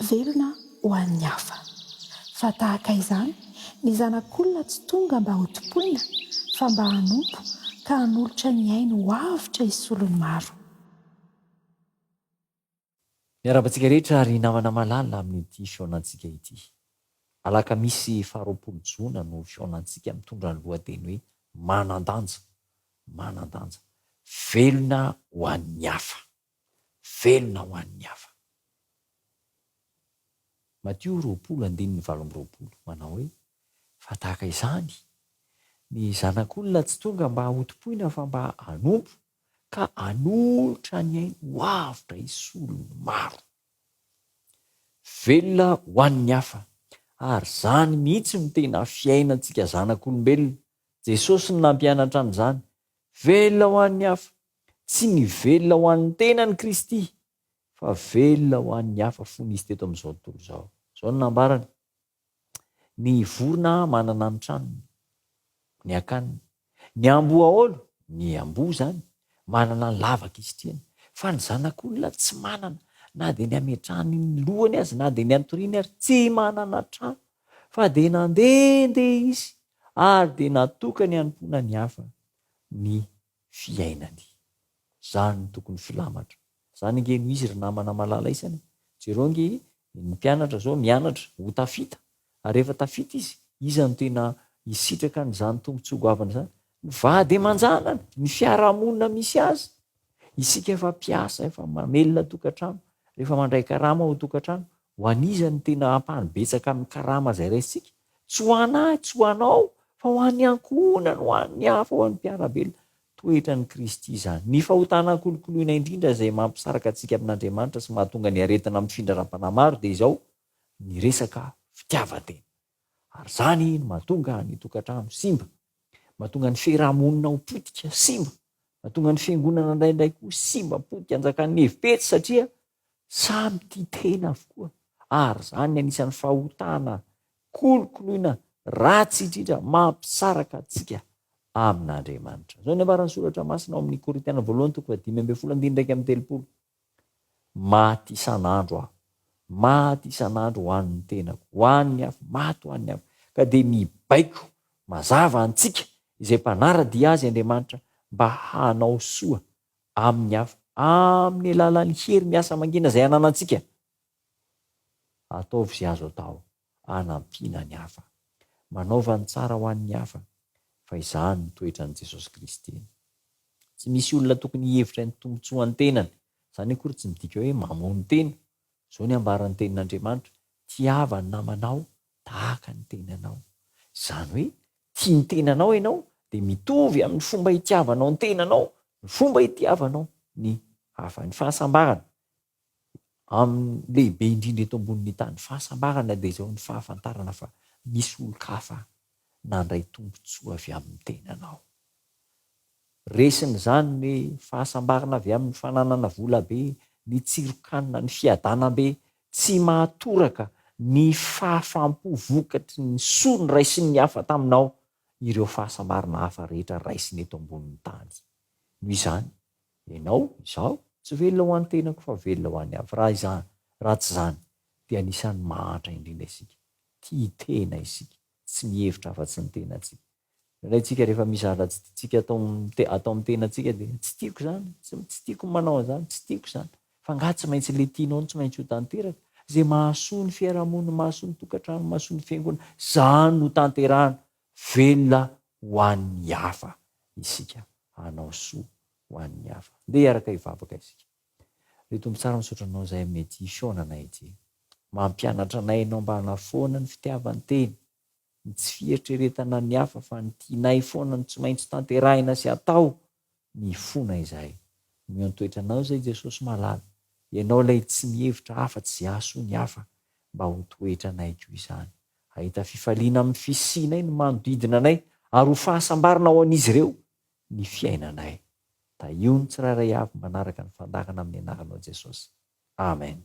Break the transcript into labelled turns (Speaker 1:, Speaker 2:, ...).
Speaker 1: Velona ho an'ny hafa. Fa tahaka izany ny Zanak'olona tsy tonga mba hotompoina fa mba hanompo ka hanolotra ny ainy ho avotra hisolo ny maro.
Speaker 2: Miarahaba antsika rehetra ry namana malala amin'ity fihaonantsika ity. Alakamisy faharoapolo jona no fihaonantsika mitondra ny lohateny hoe Manan-danja, manan-danja. Velona ho an'ny hafa, velona ho an'ny hafa. Matio roapolo andininy valo amby roapolo manao hoe, Fa tahaka izany, ny Zanak'olona tsy tonga mba hotompoina fa mba hanompo ka hanolotra ny ainy ho avotra hisolo ny maro. Velona ho an'ny hafa, ary izany mihitsy no tena fiainantsika zanak'olombelona. Jesosy no nampianatra an'izany. Velona ho an'ny hafa. Tsy ny velona ho an'ny tenany Kristy, fa velona ho an'ny hafa fony Izy teto amin'izao tontolo izao. Izao no nambarany, Ny vorona manana ny tranony, ny akaniny. Ny amboaolo, ny amboa izany, manana ny lavaka isitrihany. Fa ny zanak'olona tsy manana na dia ny hametrahany ny lohany aza, na dia ny hatoriany ary tsy manana trano. Fa dia nandehandeha izy ary dia natokany hanompoana ny hafa ny fiainany. Zany no tokony filamatra. Zany ange no izy ry namana malala isany e! Jereo ange ny mpianatra zao mianatra ho tafita ary rehefa tafita izy, iza no tena hisitraka an'izany tombotsoa goavana izany? Ny vady aman-janany, ny fiarahamonina misy azy. Isika efa mpiasa, efa mamelona tokantrano, rehefa mandray karama ao an-tokantrano, Ho an'iza no tena ampahany betsaka amin'ny karama izay raisintsika? Tsy ho anà, tsy ho anao, fa ho an'ny ankohonany, ho an'ny hafa, ho an'ny mpiara-belona. Toetran'i Kristy izany. Ny fahotana ankolokoloina indrindra izay mampisaraka antsika amin'Andriamanitra sy mahatonga ny aretina mifindra ara-panahy maro dia izao, ny resaka fitiavan-tena. Ary izany no mahatonga ny tokantrano simba, mahatonga ny fiaraha-monina ho potika, simba, mahatonga ny fiangonana indraindray koa simba, potika, anjakan'ny hevi-petsy satria Samy tia tena avokoa ary izany anisan'ny fahotana kolokoloina ratsy indrindra mampisaraka antsika amin'Andriamanitra. Izao ny ambaran'ny Soratra Masina ao amin'ny Korintiana Voalohany toko fahadimy ambin'ny folo andininy iraika amby telopolo, Maty isan'andro aho, maty isan'andro ho an'ny tenako, ho an'ny hafa, maty ho an'ny hafa. Ka dia mibaiko mazava antsika izay mpanara-dia Azy Andriamanitra mba hanao soa amin'ny hafa amin'ny alalan'ny hery miasa mangina izay ananantsika. Ataovy izay azo atao hanampiana ny hafa. Manaova ny tsara ho an'ny hafa, fa izany no toetran'i Jesosy Kristy. Tsy misy olona tokony hihevitra ny tombontsoan'ny tenany, izany akory tsy midika hoe mamono tena, Izao ny ambaran'ny Tenin'Andriamanitra, Tiava ny namanao tahaka ny tenanao. Izany hoe tia ny tenanao ianao dia mitovy amin'ny fomba itiavanao ny tenanao ny fomba itiavanao ny hafa. Ny fahasambarana amin'ny lehibe indrindra eto ambonin'ny tany, fahasambarana dia izao ny fahafantarana fa misy olon-kafa nandray tombontsoa avy amin'ny tenanao. Resiny izany ny fahasambarana avy amin'ny fananana vola be, ny tsiron-kanina, ny fiadanam-be tsy mahatoraka, ny fahafaham-po vokatry ny soa noraisin'ny hafa taminao, ireo fahasambarana hafa rehetra raisina eto ambonin'ny tany. Noho izany, ianao, izaho, tsy velona ho an'ny tenako fa velona ho an'ny hafa. Raha izany, raha tsy izany, dia anisan'ny mahantra indrindra isika. Tia tena isika, tsy mihevitra afa-tsy ny tenantsika. Indraindray isika rehefa misy zatra tsy tiantsika atao amin'ny atao amin'ny tenantsika dia, tsy tiako izany, tsy tiako ny manao an'izany, tsy tiako izany. Fa angaha tsy maintsy ilay tianao no tsy maintsy ho tanteraka? Izay mahasoa ny fiarahamonina, mahasoa ny tokantrano, mahasoa ny fiangonana, izany no tanterahina. Velona ho an'ny hafa isika, hanao soa ho an'ny hafa. Andeha hiaraka hivavaka isika. Ry Tompo tsara misaotra Anao zahay aminay ity fihaona anay ity. Mampianatra anay Ianao mba hanafoana ny fitiavan-tena, ny tsy fieritreretana ny hafa fa ny tianay foana no tsy maintsy tanterahina sy atao, mifona izahay. Miantoetra Anao izay Jesosy malala, Ianao ilay tsy mihevitra hafa tsy hiaso ny hafa mba ho toetranay koa izany. Hahita fifaliana amin'ny fisianay ny manodidina anay ary ho fahasambarana ho an'izy ireo ny fiainanay. Tahio ny tsirairay avy manaraka ny fandaharana amin'ny anaranao Jesosy. Amen.